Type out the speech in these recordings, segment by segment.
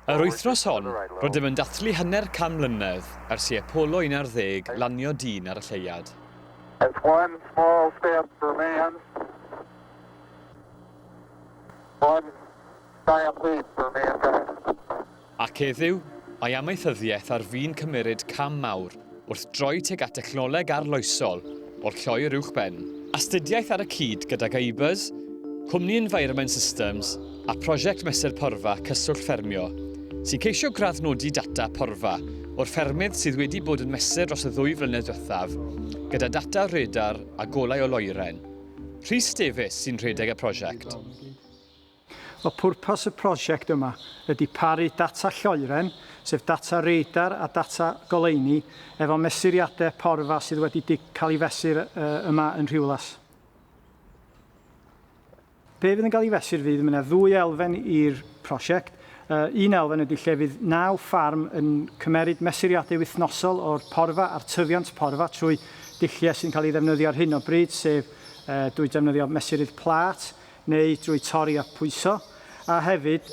Yr wythnos hon, rydym yn dathlu hanner can mlynedd ers i Apollo 11 lanio dyn ar y lleuad. It's one small step for man, one giant leap for mankind. Ac heddiw, mae amaethyddiaeth ar fin cymeryd cam mawr wrth droi tuag at dechnoleg arloesol o'r lloer uwchben. Astudiaeth ar y cyd gydag ABUS, cwmni Environment Systems a Prosiect Mesur Porfa Cyswllt Ffermio, sy'n ceisio graddnodi data porfa o'r ffermydd sydd wedi bod yn mesur dros y ddwy flynedd diwethaf gyda data radar a golau o loeren. Rhys Davies sy'n rhedeg y prosiect. O pwrpas y prosiect yma ydy paru data lloeren, sef data radar a data goleuni, efo mesuriadau porfa sydd wedi cael ei fesur yma yn Rhiwlas. Be fydd yn cael ei fesur fydd, mae yna ddwy elfen i'r prosiect. Un elfen ydy lle fydd naw ffarm yn cymeryd mesuriadau wythnosol o'r porfa a'r tyfiant porfa trwy dulliau sy'n cael ei ddefnyddio ar hyn o bryd, sef drwy defnyddio mesurydd plât, neu drwy torri a phwyso, a hefyd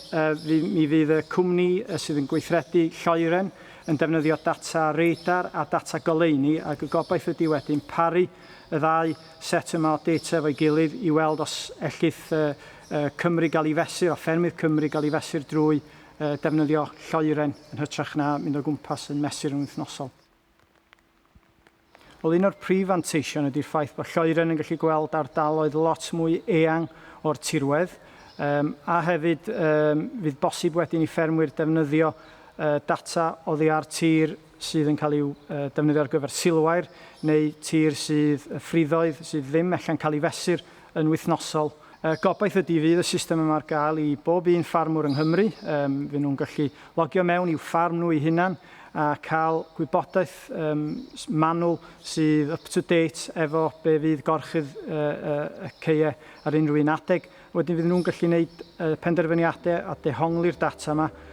mi fydd y cwmni sydd yn gweithredu lloeren yn defnyddio data radar a data goleuni ac y gobaith ydy wedyn paru y ddau set yma o data efo'i gilydd i weld os ellith Cymru gael ei fesur a ffermydd Cymru gael ei fesur drwy defnyddio lloeren yn hytrach na mynd o gwmpas yn mesur yn wythnosol. Wel, un o'r prif fanteision ydy'r ffaith bod Lloeren yn gallu gweld ardaloedd lot mwy eang o'r tirwedd, um, a hefyd um, fydd bosib wedyn i ffermwyr defnyddio uh, data oddi ar tir sydd yn cael ei uh, defnyddio ar gyfer silwair neu tir sydd ffriddoedd sydd ddim ella'n cael ei fesur yn wythnosol. Y gobaith ydy fydd y system yma ar gael i bob un ffarmwr yng Nghymru, yym fy nhw'n gallu logio mewn i'w ffarm nhw eu hunan a cael gwybodaeth yym manwl sydd up to date efo be fydd gorchudd y y y ceue ar unrhyw un adeg. Wedyn fydd nhw'n gallu neud y penderfyniade a dehongli'r data yma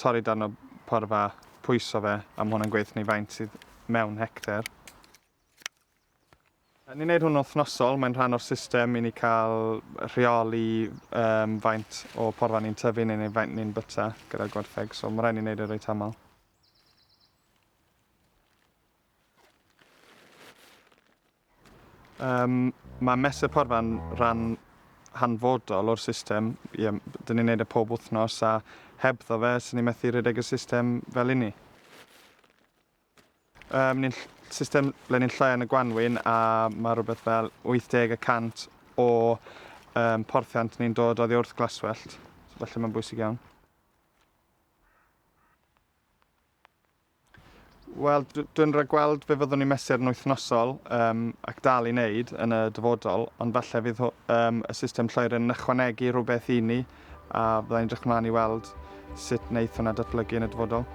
torri darn o porfa, pwyso fe, a ma' hwnna'n gweithio ni faint sydd mewn hecter. Ni'n neud hwn wythnosol, mae'n rhan o'r system i ni cael rheoli um, faint o porfa ni'n tyfu neu faint ni'n byta gyda'r gwertheg, so mae rhaid ni'n neud e reit aml. Um, mae Mesur Porfa'n rhan hanfodol o'r system. Ie, dyn ni'n neud e pob wythnos a hebddo fe, sy'n ni methu rhedeg y system fel inni. Um, ni'n system ble ni'n llai yn y gwanwyn a mae rhywbeth fel 80 y cant o um, porthiant ni'n dod oddi wrth glaswellt. So, felly mae'n bwysig iawn. Wel, dwi'n rhagweld fe fyddwn ni'n mesur yn wythnosol um, ac dal i wneud yn y dyfodol, ond falle fydd um, y system lloer yn ychwanegu rhywbeth i ni a byddai'n edrych mlaen i weld sut wneud hwnna datblygu yn y dyfodol.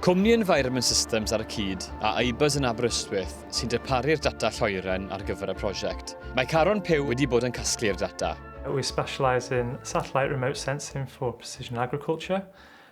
Cwmni Environment Systems ar y cyd a IBAS yn Aberystwyth sy'n darparu'r data lloeren ar gyfer y prosiect. Mae Caron Pew wedi bod yn casglu'r data. We specialise in satellite remote sensing for precision agriculture.